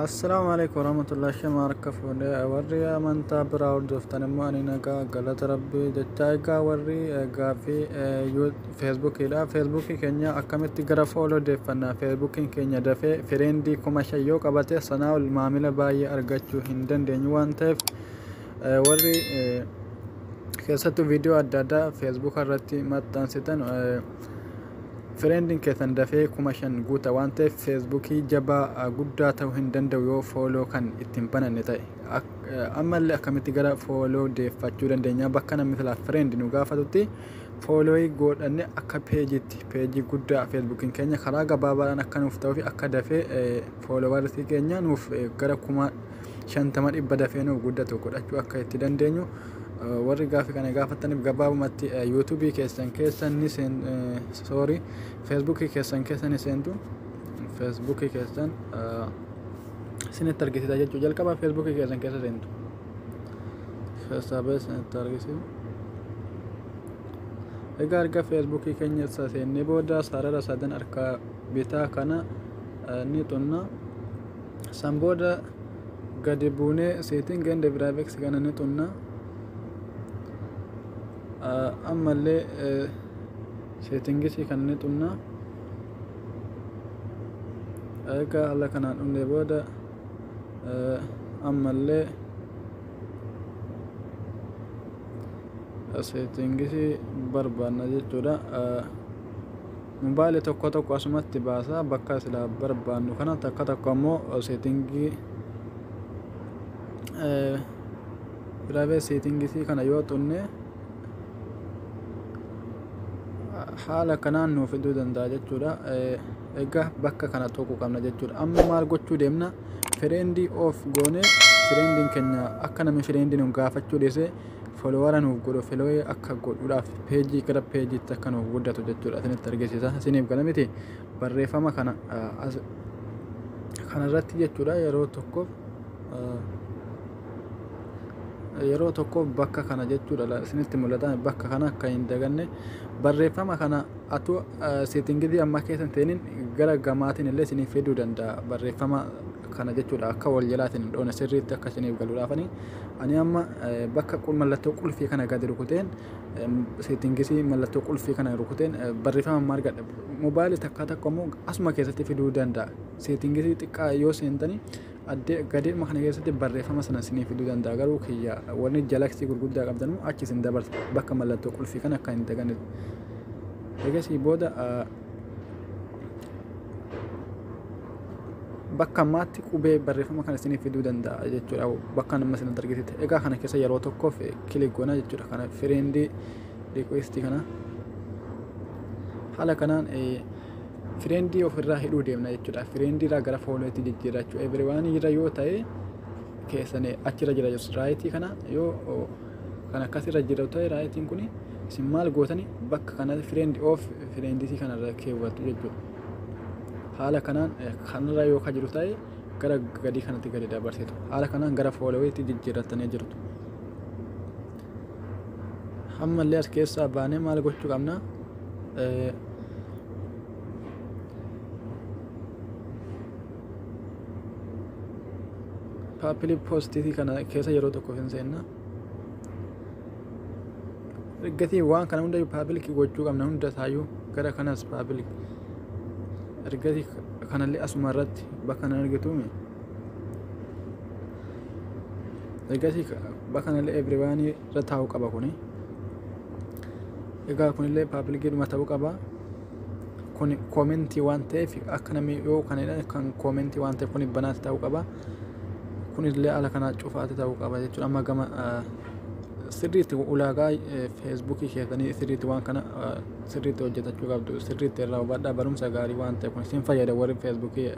Assalaamu alaikum warahmatullahi shama harka fuudhee warri amantaa biraa hordoftan immoo ani nagaa galata rabbii jechaa egaa warri gaaffii feesbuukiidha feesbuukii keenya akkamitti gara fooloo deeffannaa feesbuukiin keenya dafee fireendii kuma shan yoo qabate sanaa ol maamila baay'ee argachuu hin dandeenyu waan ta'eef warri keessattuu viidiyoo adda addaa feesbuuka irratti maxxansitan fireendiin keessan dafee kuma shan guuta waan ta'eef feesbuukii jabaa guddaa ta'uu hin danda'u yoo fooloo kan ittiin bananne ta'e ammallee akkamitti gara fooloo deeffachuu dandeenya bakka namni silaa fireendi nu gaafatutti foolooyi godhanne akka peejiitti peejii guddaa feesbuukiin keenya karaa gabaabaadhaan akka nuuf ta'uu fi akka dafee fooloowarsii keenya nuuf gara kuma shantama dhibba dafee nuuf guddatu godhachuu akka itti dandeenyu warri gaaffii kana gaafataniif gabaabumatti yuutuubii keessan keessa ni soorii feesbuukii keessan keessa ni seentu feesbuukii keessan isinitti argisiisa jechuu jalqaba feesbuukii keessan keessa seentu keessaa ba'e isinitti argisiisa. Egaa erga feesbuukii keenya isa seennee booda sarara sadan harka bitaa kana ni xunna. San booda gadi buunee setting and graphics kana ni xunna. Ammallee settingisii kana ni xunna. Egaa haala kanaan dhumne booda ammallee settingisii barbaanna jechuudha. Mobile tokko tokko asumatti baasa bakka sila barbaannu kana takka tokko ammoo seetingii private seetingisi kana yoo xunne haala kanaan nuuf fiduu danda'a jechuudha egaa bakka kana tuquu qabna jechuudha amma maal gochuu deemna fireendii of goone fireendiin keenya akka namni fireendii nu gaafachuu dhiise Followara nuuf godhu filoe akka godhudhaaf peejii gara peejiitti akka nuuf guddatu jechuudha isinitti argisiisa isiniif gala miti barreeffama kana kanarratti jechuudha yeroo tokkoof yeroo tokkoof bakka kana jechuudha isinitti mul'ata bakka kana akka hin daganne barreeffama kana atuu seetingidii ammaa keessa ta'iniin gara gamaatiin illee isiniif fiduu danda'a barreeffama kana jechuudha akka wal jalaatiin dhoone sirriitti akka isiniif galuudhaafanii Ani amma bakka mallattoo qulfii kana gadi rukuteen seettingisii mallattoo qulfii kana rukuteen barreeffama amma argadha. Mobaayilii takkaa takka immoo asuma keessatti fiduu danda'a. Seettingisii xiqqaa yoo seentanii addee gadeema kana keessatti barreeffama sana isinii fiduu danda'a. Garuu kiyya warri jalaksii gurguddaa qabdanuu achi isin dabarsa bakka mallattoo qulfii kana akka hin daganne. Egasii booda bakka ammaatti qubee barreeffama kana isiniif fiduu danda'a jechuudha bakka nama isin argisitti egaa kana keessa yeroo tokkoof kilik goona jechuudha kana fireendii riikweestii kana haala kanaan fireendii ofirraa hidhuu deemna jechuudha fireendii irraa gara foolootti jijjiirrachuu eebiriwaan irra yoo ta'e keessan achirra jira jirtu raayitii kana yoo kan akkas irra jira ta'e raayitiin kun isin maal gootani bakka kanatti fireend of fireenditii kanarra keewwattu jechuudha. Haala kanaan kanarra yoo ka jiru ta'e gara gadii kanatti gadi dabarsitu. Haala kanaan gara fooloweetti jijjiirrattanii jirtu. Ammallee as keessaa baanee maal gochuu qabna? paapilii poostii kana keessa yeroo tokko hin seenna ergasii waan kana hunda paabilikii gochuu qabna hunda isaayyuu gara kanas paabilik ergasii kanallee asuma irratti bakka na argituumi ergasii bakka kanallee ebiriwaanii irra taa'uu qaba kuni egaa kunillee paabilikiidhuma ta'uu qaba. kuni koomentii waan ta'eef akka namni yoo kan jedhan kan koomentii waan ta'eef kuni banaatti ta'uu qaba kunillee ala kanaa cufaatti ta'uu qaba jechuudha amma gama sirriitti ulaagaa feesbuukii keessanii sirriitti waan kana sirriitti hojjetachuu qabdu sirriitti irraa hubadhaa barumsa gaarii waan ta'eef kun isin fayyada warri feesbuukii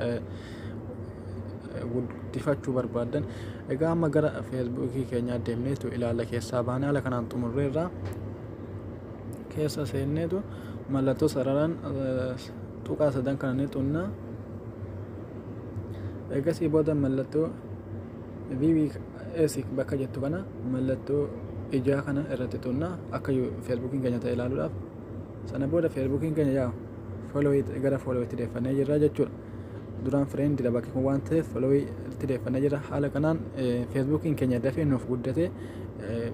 guddifachuu barbaadan egaa amma gara feesbuukii keenyaa deemneetu ilaalla keessaa baanee ala kanaan xumurreerraa keessa seenneetu mallattoo sararaan tuqaa sadan kana ni tunna eegasii booda mallattoo VBS bakka jettu kana mallattoo ijaa kana irratti tunna akka feesbuukiin keenya ta'e ilaaluudhaaf sana booda feesbuukiin keenya yaa gara fooloowitti deeffannee jirra jechuudha. duraan friend dha bakki kun waan ta'eef followii itti deeffannee jira haala kanaan feesbuukiin keenya dafee nuuf guddate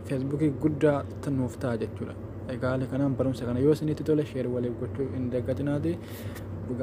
feesbuukii guddaa nuuf ta'a jechuudha egaa haala kanaan barumsa kana yoo isinitti tole sheer waliif gochuu hin daggatinaati dhugaa